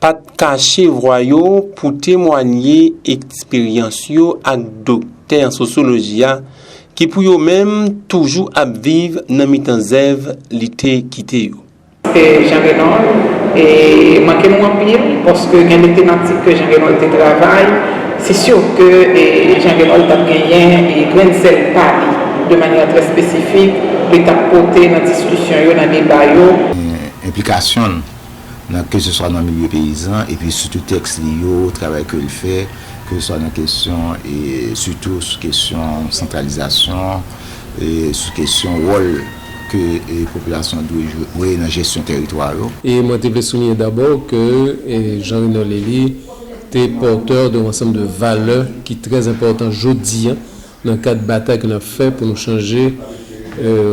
pa t kache vwa yo pou temwanye eksperyans yo ak doktè an sosyoloji a ki pou yo menm toujou ap viv nan mitan zèv li te kite yo. Se Jean Renold e manke nou anpil paske gen de tematik ke Jean Renold te travay se sur ke Jean Renold t ap genyen grenn sèl pa li de manyè trè espesifik li t ap pote nan diskisyon yo, nan deba yo. Enplikasyon l nan keseswa nan milye peyizan epi sitou tèks li yo, travay ke l fè, keseswa nan kesyon e sitou sou kesyon santralizasyon, sou kesyon wòl ke popilasyon dwe jwe nan jesyon teritwa yo. E mwen te vle souliye dabò ke Jean Reno Lely te porteur d'un ensemble de valeurs ki trè enpòtan jodi Nan kad batay ke nap fè pou nou chanje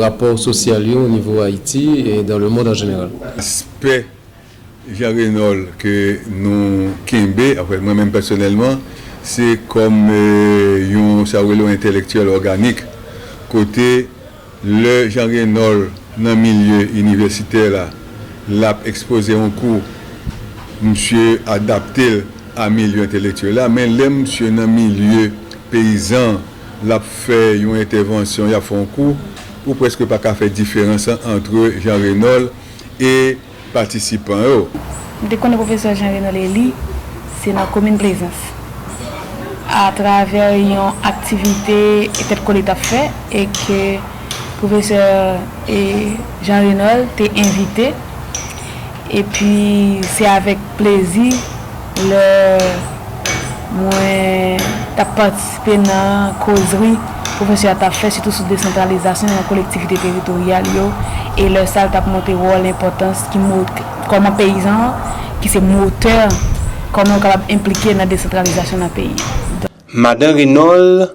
rapò sosyal yo o nivo Ayiti e dan le mond an jeneral. Aspè Jean Renold ke nou kenbe, anfen mwen menm pèsonèlman, se kòm yon sa ou rele yon entèlektyèl òganik kote Lè Jean Renold nan milye inivèsitè la, l ap ekspoze yon kou, msye adapte l a milye entelektyèl la, men lè msye nan milye peyizan, l ap fè yon entèvansyon, y ap fè yon kou, ou prèske pa ka fè diferans lan antre Jean Renold e. patisipan yo. M te konnen pwofesè Jean Renol Elie se nan komin Plezans atravè yon aktivite Tèt Kole t ap fè e ke pwofesè Jean Renol te envite epi se avèk plezi Lè mwen t ap patisipe nan kozri pwofesè a t ap fè sitou sou desantralizasyon nan kolektivite teritoryal yo e lè sa l t ap montre wòl enpòtans ki kòman peyizan an ki se motè kòman yo kapab enplike nan desantralizasyon nan peyi. Madan Renauld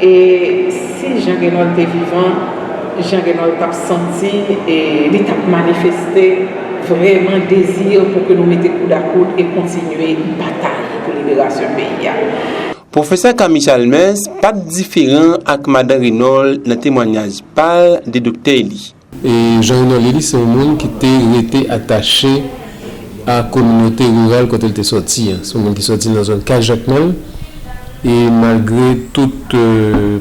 E si Jean Genol te vivan Jean Genol tap santi e li tap manifeste vreman dezi pou ke nou mete koud a koud e kontinye batay pou liberasyon peyi a. Pwofesè Camille Chalmers pat diferan ak Madan Renauld nan temwanyaj pal de doktè li. E Jean Renol Elie se yon moun ki te rete atache a kominote riral kote l te sòti an. Se yon moun ki sòti nan zòn Kay Jakmèl e malgre tout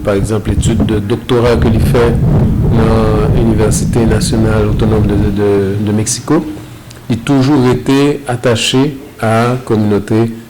pa egzanp etid de doktora ke li fè nan Inivèsite Nasyonal Otonòm de Meksiko, li toujou rete atache a kominote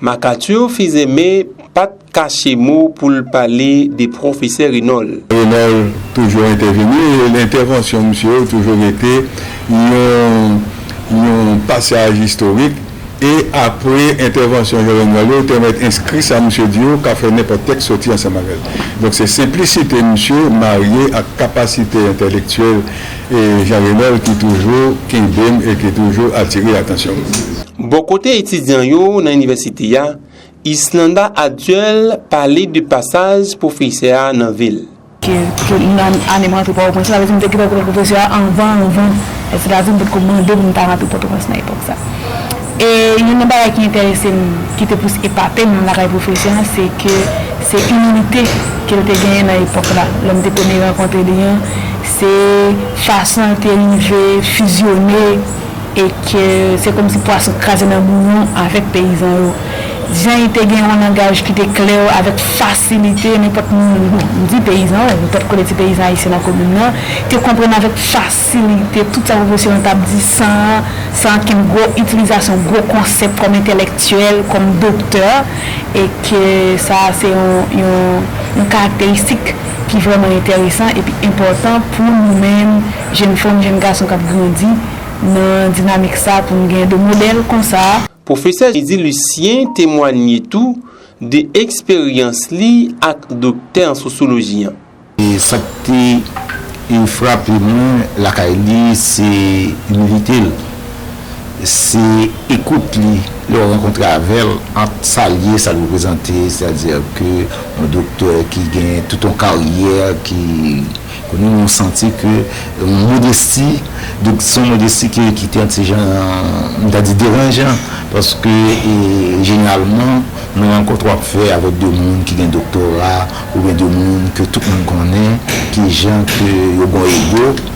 MacArthur Fils-Aimé pa t kache mo pou l pale de pwofesè Renauld. Renauld toujou entèveni e entèvansyon misye yo toujou rete yon pasaj istorik e apre entèvansyon Jean Renold yo, yo te mèt enskri sa misye di yo ka fè nenpòt tèks soti ansanm avè l. Donk se senplisite misye marye ak kapasite entèlektyèl E Jean Renel ki toujou kenbe m e ki toujou atire atansyon m. Bò kote etidyan yo nan inivèsite a, Yslanda Aduel pale de pasaj pwofesè a nan vi l. Ke pou m nan ane m rantre Pòtoprens, sa vle di m te gen rankontre ak pwofesè a anvan anvan, se ta di m pot ko mande pou m ta rantre Pòtoprens nan epòk sa. E youn nan bagay ki enterese m, ki te plis epate m lakay pwofesè a, se ke se imilite ke l te genyen nan epòk la, lè m te premye rankontre li an, Se fason yo te rive fizyone e ke se kòmsi pwason kraze nan bouyon avèk peyizan yo. Jan y te gen yon langaj ki te klè avèk fasilite nenpòt moun, bon, m di peyizan, m pa t konnen ti peyizan ayisyen nan komin nan, te konprann avèk fasilite tout sa pwofesè an t ap di san san ankenn gwo itilizasyon gwo konsèp kòm entèlèktyèl, kòm doktè e ke sa a se yon yon karakteristik. ki vrèman enteresan epi enpòtan pou nou menm jenn fanm, jenn gason k ap grandi nan dinamik sa a pou n gen de modèl konsa. Pwofesè Jezi Lisyen temwanye tou de eksperyans li ak doktè an sosyoloji an. Sa k te frape mwen lakay li se imilite l. Se ekout li, lè ou rankontre avè l, ant sa l ye, sa l reprezante, sètadi ke yon doktè ki gen tout yon karyè, ki konnen ou santi ke yon modesti, donk se yon modesti ki te yon ti jan, m ta di deranjan, paske jeneralman nan rankontre w ap fè avèk de moun ki gen doktora, oubyen de moun ke tout moun konnen, ki jan ke yo gon ego.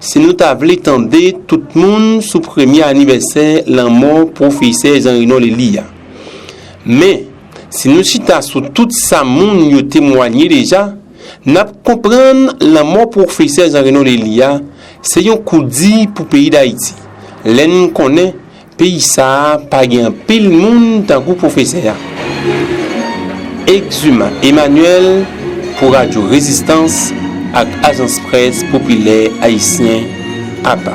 Si nou ta vle tande tout moun sou premye anivèsè lanmò pwofesè Jean Reno Lely a. Men, si nou chita sou tout sa moun yo temwanye deja, n ap konprann lanmò pwofesè Jean Reno Lely a se yon kou di pou peyi Dayiti, lè n konnen, Peyi sa a pa gen anpil moun tankou pwofesè a. Exuma Emmanuel pou Radyo Rezistans ak Ajans Près Popilè Ayisyen, apa.